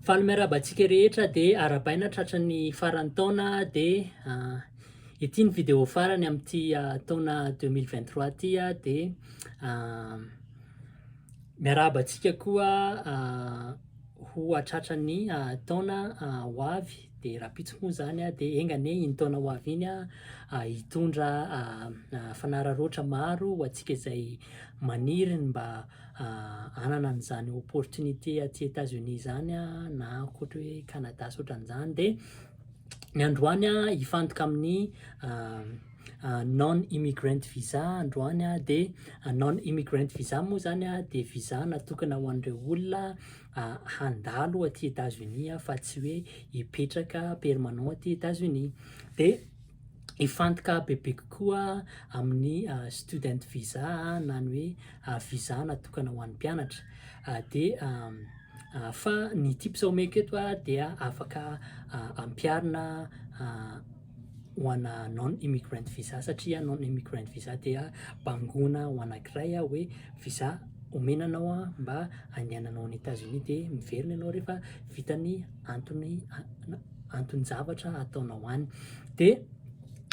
Faly miarahaba antsika rehetra dia arahabaina tratra ny faran'ny taona dia ah, ity ny video farany amin'ity ah, taona 2023 ity ah, dia ah, miarahaba antsika koa ah, ho hatratra ny ah, taona ah, ho avy. dia rahampitso moa izany aho dia enga anie iny taona ho avy iny aho hitondra fanararaotra maro ho antsika izay maniry ny mba hanana an'izany opportunité aty États-Unis izany na ankoatra hoe Canada sy ohatran'izany dia ny androany aho hifantoka amin'ny non immigrant visa androany aho dia non immigrant visa moa izany aho dia visa natokana ho an'ireo olona handalo aty Etazonia aho fa tsy hoe hipetraka permanent aty Etazonia. Dia hifantoka bebe kokoa amin'ny student visa na ny hoe visa natokana ho an'ny mpianatra. Dia fa ny tips omeko eto dia afaka ampiharina ho ana non immigrant visa satria non immigrant visa dia bangona ho anankiray aho hoe visa omena anao aho mba handehananao any Etats Unis dia miverina ianao rehefa vita ny antony anton-javatra ataonao any dia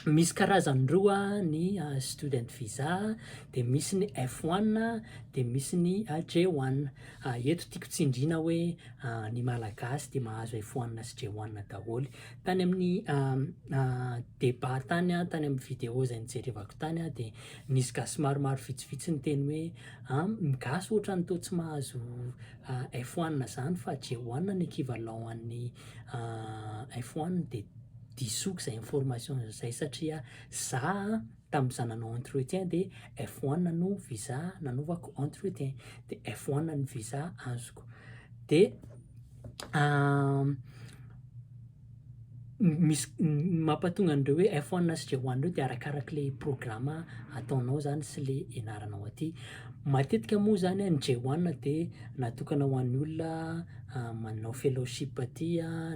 misy karazany roa ny ah, student visa dia misy ny F1 dia misy ny ah, J1 ah, eto tiako tsindrina hoe ny malagasy dia mahazo F1 sy J1 daholo Tany amin'ny débat tany, tany amin'ny vidéo izay nijerevako tany aho dia nisy gasy maromaro vitsivitsy niteny hoe an, ny gasy ohatran'ny toa tsy mahazo f one izany fa j one no equivalent an'ny f one dia disoiko izay information izay satria za an, Tamin'ny za nanao entretien dia F1 no visa nanaovako entretien, dia F1 ny visa azoko. Dia misy mampatonga an'ireo hoe F1 sy J1 ireo dia arakaraka le programa ataonao zany sy le ianaranao aty. Matetika moa zany ny J1 dia natokana ho an'ny olona manao fellowship aty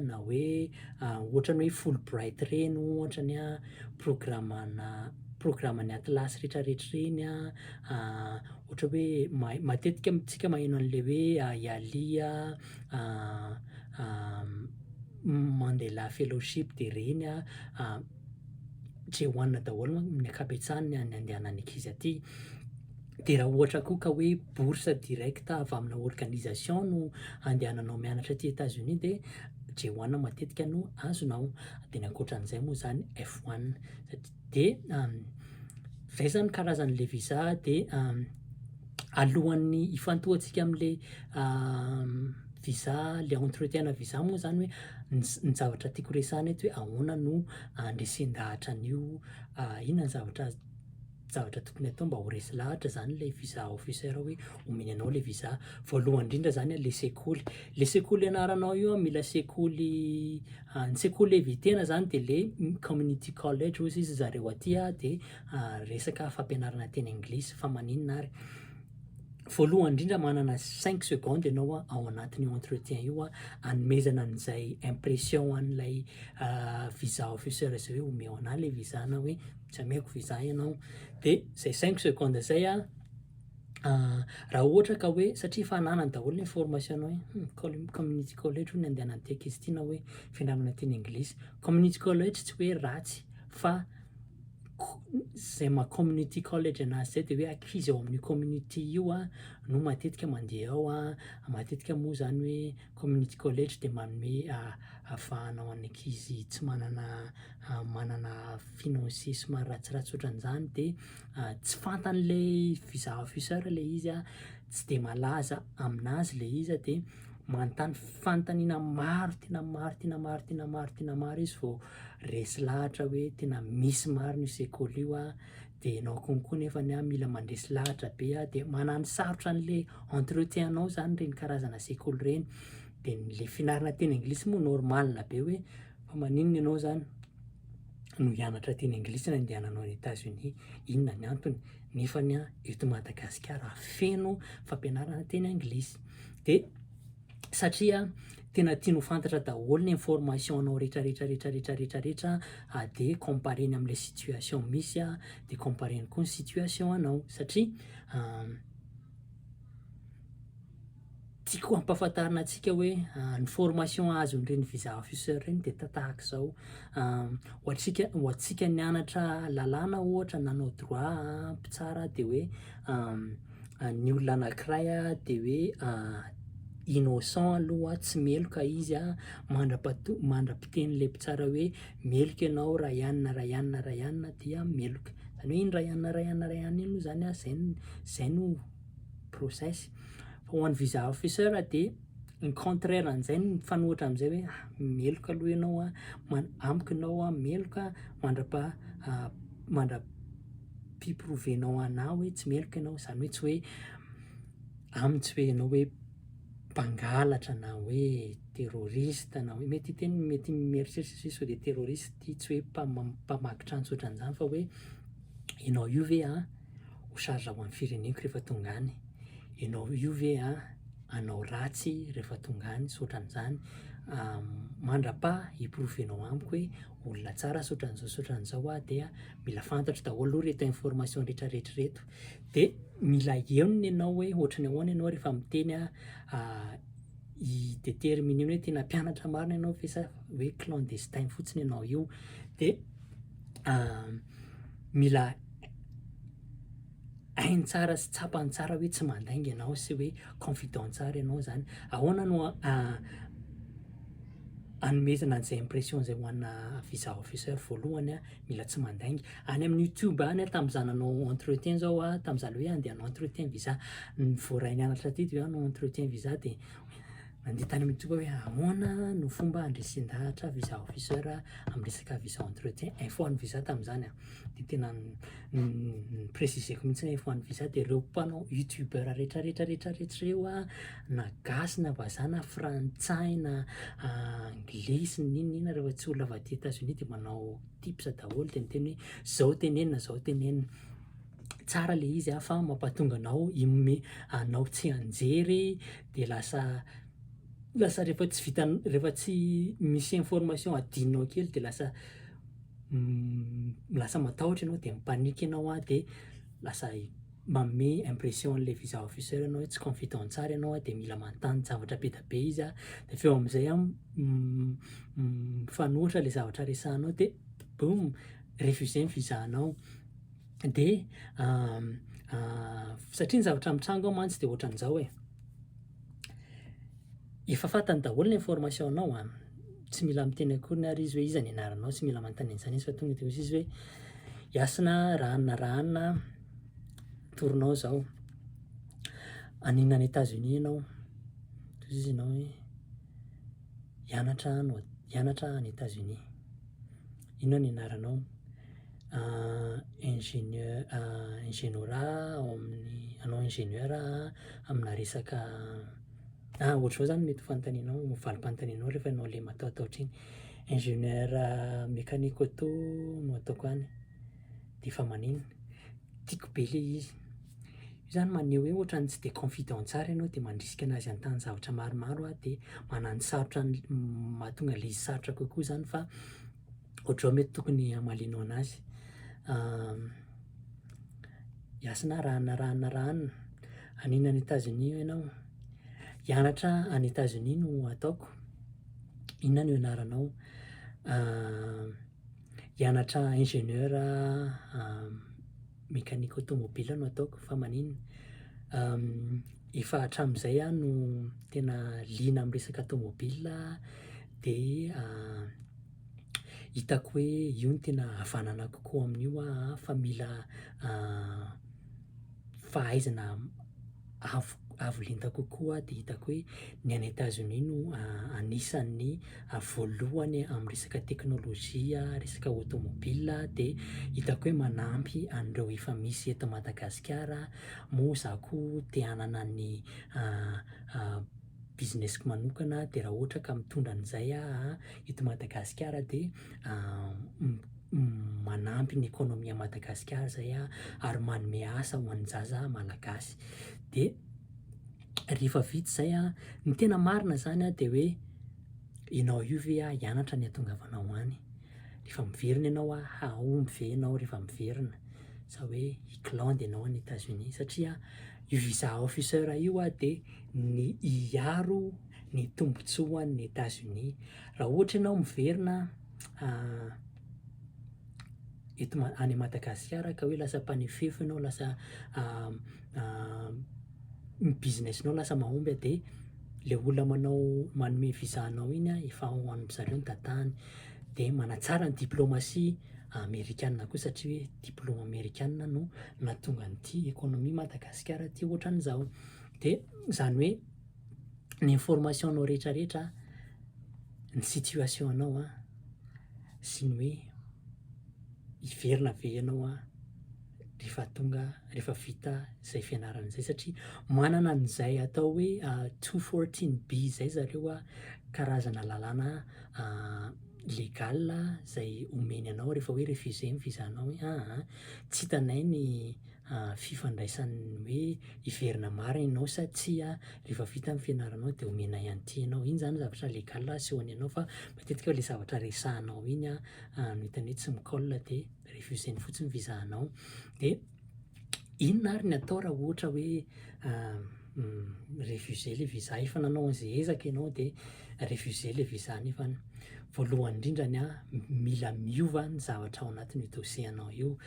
na hoe ohatran'ny hoe Fulbright ireny ohatra ny a. programana programan'ny atlas retraretra ireny a ohatra hoe mahay matetika amintsika maheno an'le hoe IALI a Mandela fellowship de ireny a Jehoanina daholo amin'ny ankabetsahany ny andehanan'ny ankizy aty Dia raha ohatra koa ka hoe bourse directe avy amina organisation no andehananao mianatra aty Etats-Unis dia J1 matetika no azonao. Dia ny ankoatran'izay moa izany F1. Dia izay izany karazan'ilay visa dia alohan'ny hifantohantsika amin'ilay visa, ilay entretien-na visa moa izany hoe ny zavatra tiako resahina eto hoe ahoana no handresen-dahatra an'io, inona ny zavatra zavatra tokony atao mba ho resy lahatra zany ilay visa officer hoe omeny anao ilay visa voalohany indrindra zany ilay sekoly le sekoly anaranao io a mila sekoly ah, ny sekoly evitena zany de le community college ozy izy zareo aty a de ah, resaka fampianarana teny anglisy fa maninona ary voalohany indrindra manana 5 seconde ianao a ao anatin'io entretien io a anomezana an'izay impression an'ilay ah, visa officer izay hoe omeo anah le visa na hoe tsy ameko visa ianao dia zay cinq seconde zay a ah, raha ohatra ka hoe satria efa ananany daholo ny information hoe hmm, col- community college ho ny andehanan'ny ty ankizy ty na hoe fianarana ty ny anglisy community college tsy hoe ratsy fa ko- zay ma community college anazy zay dia hoe ankizy ao amin'ny community io a no matetika mandeha ao a matetika moa zany hoe community college dia manome ah, avahana ho an'ny ankizy tsy manana manana financissement ratsiratsy ohatran'izany de tsy fantan'le fusahafuseur le izy a, tsy de malaza aminazy le izy a, de manontany fanontaniana maro tena maro tena maro tena maro tena maro izy vao resy lahatra hoe tena misy marina io sekoly io a, de enao koa koa nefany a mila mandresy lahatra be a, de manano sarotra an'le entretien anao zany reny karazana sekoly reny, de le fianarana teny anglisy moa normal be hoe Fa maninona ianao zany no hianatra teny anglisy na hindehananao any Etats Unis? Inona ny antony? Nefany an, eto Madagasikara feno fampianarana teny anglisy. De satria tena tiany ho fantatra daholo ny information anao rehetra rehetra rehetra rehetra rehetra rehetra an, de compareny amle situation misy an, de compareny koa ny situation anao satria Tiako hampafantarina antsika hoe ny formation azon'ireny visa officer ireny dia tahaka izao, ho antsika ho antsika nianatra lalàna ohatra nanao droit mpitsara dia hoe ny olona anankiray dia hoe innocent aloha tsy meloka izy a, mandrapato- mandra-piteny le mpitsara hoe meloka ianao raha ihany na raha ihany na raha ihany na dia meloka, zany hoe iny raha ihany na raha ihany na raha ihany iny moa zany a zay no zay no process. Fa ho an'ny visa officer dia ny contraire an'izay no mifanohitra amin'izay hoe ah, meloka aloha ianao a, man- amiko ianao a, meloka mandrapa ah, mandra-piprovenao anah hoe tsy meloka ianao, izany hoe tsy hoe aminy tsy hoe ianao hoe mpangalatra na hoe terroriste na hoe mety hiteny mety mieritreritra sisa hoe dia terroriste ity tsy hoe mpama- mpamaky trano tsy ohatran'izany fa hoe ianao io ve an, ho charge ho an'ny fireneko rehefa tonga any, ianao io ve hanao ratsy rehefa tonga any sy ohatran'izany, mandrapa hi-prouver-nao amiko hoe olona tsara sy ohatran'izao sy ohatran'izao aho dia mila fantatro daholo aloha ireto information rehetrarehetra ireto, dia mila henony ianao hoe ohatran'ny ahoana ianao rehefa miteny hi-determiner-ny hoe tena mpianatra marina ianao ve sa hoe clandestin fotsiny ianao io, dia mila. hainy tsara sy tsapany tsara hoe tsy mandainga ianao sy hoe confident tsara ianao zany, ahoana no anomezana an'izay impression zay ho ana visa officer voalohany a, mila tsy mandainga, any amin'ny youtube any a tamin'izaho nanao entretien zao a, tamin'izaho le hoe andeha hanao entretien visa, ny voaray nianatra teto zany hanao entretien visa de nandeha tany amin'ny youtube aho hoe ahoana no fomba handresen-dahatra visa officer amin'ny resaka visa entretien, info an'ny visa tamin'izany a. dia tena ni-preciseko mihintsy hoe ho an'ny visa dia ireo mpanao youtubeur rehetra rehetra rehetra rehetra ireo an, na gasy na vazaha na frantsay na anglisy na inona na inona rehefa tsy olona avy aty Etats Unis dia manao tips daholo dia miteny hoe izao tenenina izao tenenina, tsara ilay izy an fa mampahatonga anao hi-me anao tsy hianjery dia lasa lasa rehefa tsy vitanao rehefa tsy misy information adinonao kely dia lasa lasa matahotra ianao dia mi-panique ianao an, dia lasa manome impression an'ilay visa officer ianao hoe tsy confident tsara ianao an, dia mila manontany zavatra be dia be izy an, dia avy eo amin'izay an mifanohitra ilay zavatra resahinao dia boum refusé ny visa anao, dia satria ny zavatra mitranga ao mantsy dia ohatran'izao e, Efa fantany daholo ny information nao an! tsy mila miteny akoriny ary izy hoe iza ny anaranao, tsy mila manontany an'izany izy fa tonga dia hozy izy hoe Hasina an, raha anona raha anona an, torinao izao, haninona any Etats Unis ianao? dia hozy izy ianao hoe hianatra any Etats Unis. inona ny anaranao? ingénieur ingénieur ao amin'ny hanao ingénieur aho amina resaka na ohatr'izao zany mety ho fanontanianao na valim-panontanianao rehefa ianao le matahotahotra iny, ingénieur mécanique auto no ataoko any. D'efa maninn. Tiako be le izy. Io zany maneho hoe ohatran'ny tsy dia confident tsara ianao dia mandrisika anazy hanontany zavatra maromaro aho dia manano sarotra ny mahatonga le izy sarotra kokoa zany fa ohatrao mety tokony hamalianao anazy. Yasina a, rahana rahana rahana. Haninn any Etazonia ianao? Hianatra any Etazonia no ataoko. Inona no ianaranao? hianatra ingénieur mécanique automobile no ataoko fa maninona efa hatramin'izay aho no tena liana amin'ny resaka tomobile dia hitako hoe io no tena havanana kokoa amin'io aho fa mila fahaizana avo avo lenta kokoa dia hitako hoe ny any Etazonia no anisan'ny voalohany amin'ny resaka teknolojia, resaka automobile dia hitako hoe manampy an'ireo efa misy eto Madagasikara, moa izaho koa te hanana ny business-ko manokana dia raha ohatra ka mitondra an'izay aho eto Madagasikara dia manampy ny economie Madagasikara izay aho ary manome asa ho an'ny zaza malagasy. Dia rehefa vita izay an, ny tena marina izany an dia hoe ianao io ve an hianatra ny hahatongavanao any? Rehefa miverina ianao an, hahomby ve ianao rehefa miverina? Sa hoe hi-glande ianao any Etats-Unis? Satria io visa officer io an dia ny hiaro ny tombotsoan'ny Etazonia. Raha ohatra ianao miverina eto ma- any Madagasikara ka hoe lasa mpanefefo ianao, lasa ny business-nao lasa mahomby a, dia le olona manao manome visa anao iny a, efa ho an-dry zareo ny datany. Dia manatsara ny diplomatie amerikana koa satria hoe diplaoma amerikana no nahatonga an'ity économie Madagasikara ty ohatran'izao. Dia izany hoe ny information nao rehetra rehetra ny situation anao an, sy ny hoe hiverina ve ianao an rehefa tonga rehefa vita izay fianarana izay satria manana an'izay atao hoe two fourteen B izay zareo an, karazana lalàna legale izay omeny anao rehefa hoe refuser ny visa nao hoe aah tsy hitanay ny fifandraisan'ny hoe hiverina marina ianao sa tsia, rehefa vita ny fianaranao dia omena ihany ity ianao. Iny zany zavatra legal asehony anao fa matetika le zavatra resahanao iny no hitan'ny hoe tsy mi-colle dia refuseny fotsiny visa anao. Dia inona ary ny atao raha ohatra hoe. mi-refuser ilay visa, efa nanao an'izay ezaka ianao dia refuser ilay visa nefa voalohany indrindra ny ahy mila miova ny zavatra ao anatin'io dossier anao io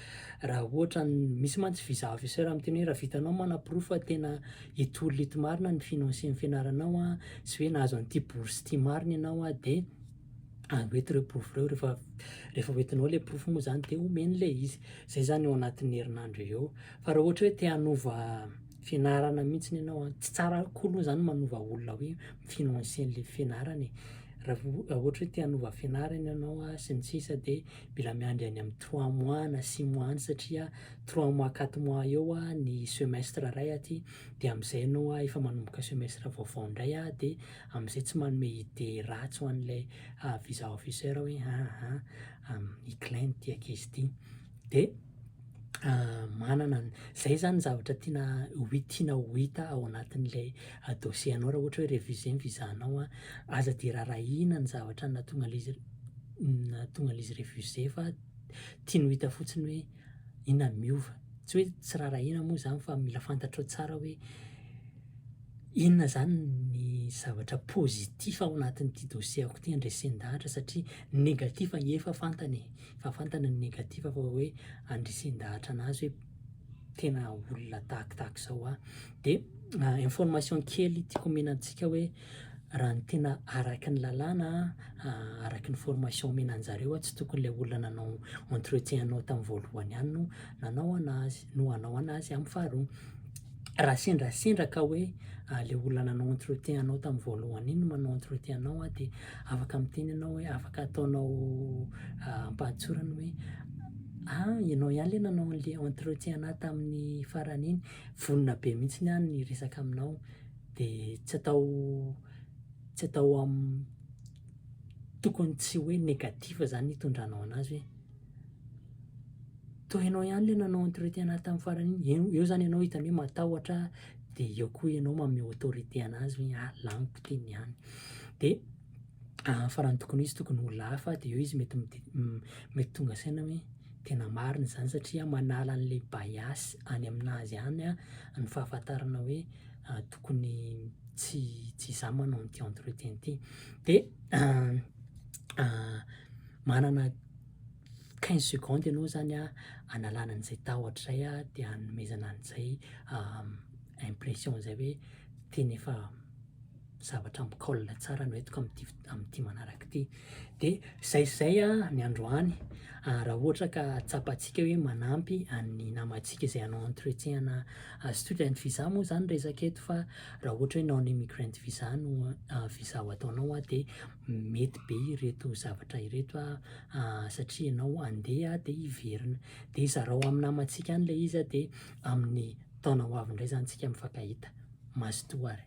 raha ohatra ny misy mantsy visa officer miteny hoe raha vitanao manaporofo fa tena hitory eto marina ny financier ny fianaranao an sy hoe nahazo an'ity bourse ity marina ianao an dia avy eto ireo porofo ireo rehefa rehefa hoentinao ilay porofo moa izany dia omeny ilay izy izay izany eo anatin'ny herinandro eo fa raha ohatra hoe te hanova fianarana mihitsiny ianao a, tsy tsara akory moa zany manova olona hoe mi-financer an'le fianarana e, raha vao raha ohatra hoe te hanova fianarana ianao a sy ny sisa de mila miandry any amin'ny trois mois na six mois any satria trois mois quatre mois eo a ny semestre ray aty de am'zay ianao a efa manomboka semestre vaovao ndray a de am'zay tsy manome idée ratsy ho an'le visa officer hoe aah i klein ty ankizy ty de. manana ny, zay zany ny zavatra tiana ho- tiana ho hita ao anatin'ilay dossier anao raha ohatra hoe refuser ny visa anao an, aza dia rarahiana ny zavatra nahatonga an'ilay izy nahatonga an'ilay izy refuser fa tiany ho hita fotsiny hoe inona no miova, tsy hoe tsy rarahiana moa zany fa mila fantatrao tsara hoe inona zany ny zavatra positif ao anatin'ity dossier-ko ity handresendahatra satria ny negatif efa fantany e. fa fantany ny negatif fa hoe andresen-dahatra anazy hoe tena olona tahak tahaka izao aho, dia information kely tiako omena antsika hoe raha ny tena araky ny lalàna araky ny formation omena anjareo tsy tokony ilay olona nanao entretien anao tamin'ny voalohany ihany no nanao anazy. no hanao anazy amin'ny faharoa. Raha sendrasendra ka hoe le olona nanao entretien anao tamin'ny voalohany iny no manao entretien anao a de afaka miteny ianao hoe afaka ataonao ampahatsorany hoe ah ianao ihany le nanao an'le entretien anahy tamin'ny farany iny, vonona be mihitsiny aho ny hiresaka aminao de tsy atao tsy atao am- tokony tsy hoe negatif zany itondranao anazy hoe. Toa ianao ihany ilay nanao entretien ahy tamin'ny farany iny, eo eo zany ianao hitan'ny hoe matahotra ahy, de eo koa ianao manome autorité anazy hoe ah, laniko ty ny ahy. De farany tokony ho izy tokony ho olona hafa, de eo izy mety midi- mety tonga saina hoe tena marina izany satria manala an'ilay bias any aminazy any ny fahafantarana hoe tokony tsy tsy izaho manao an'ity entretien ty. De. Manana quinze secondes ianao izany hanalana an'izay tahotra izay dia hanomezana an'izay impression izay hoe tena efa zavatra mi-colle tsara no entiko amin'ity foto- amin'ity manaraka ity. Dia izay sy izay ny androany, raha ohatra ka tsapantsika hoe manampy an'ny namantsika izay hanao entretien ana student visa moa izany resaka eto fa Raha ohatra hoe non immigrant visa no visa ho ataonao dia mety be ireto zavatra ireto satria ianao handeha dia hiverina. Dia zarao amin'ny namantsika any ilay izy dia amin'ny taona ho avy indray izany isika mifankahita. Mazotoa ary.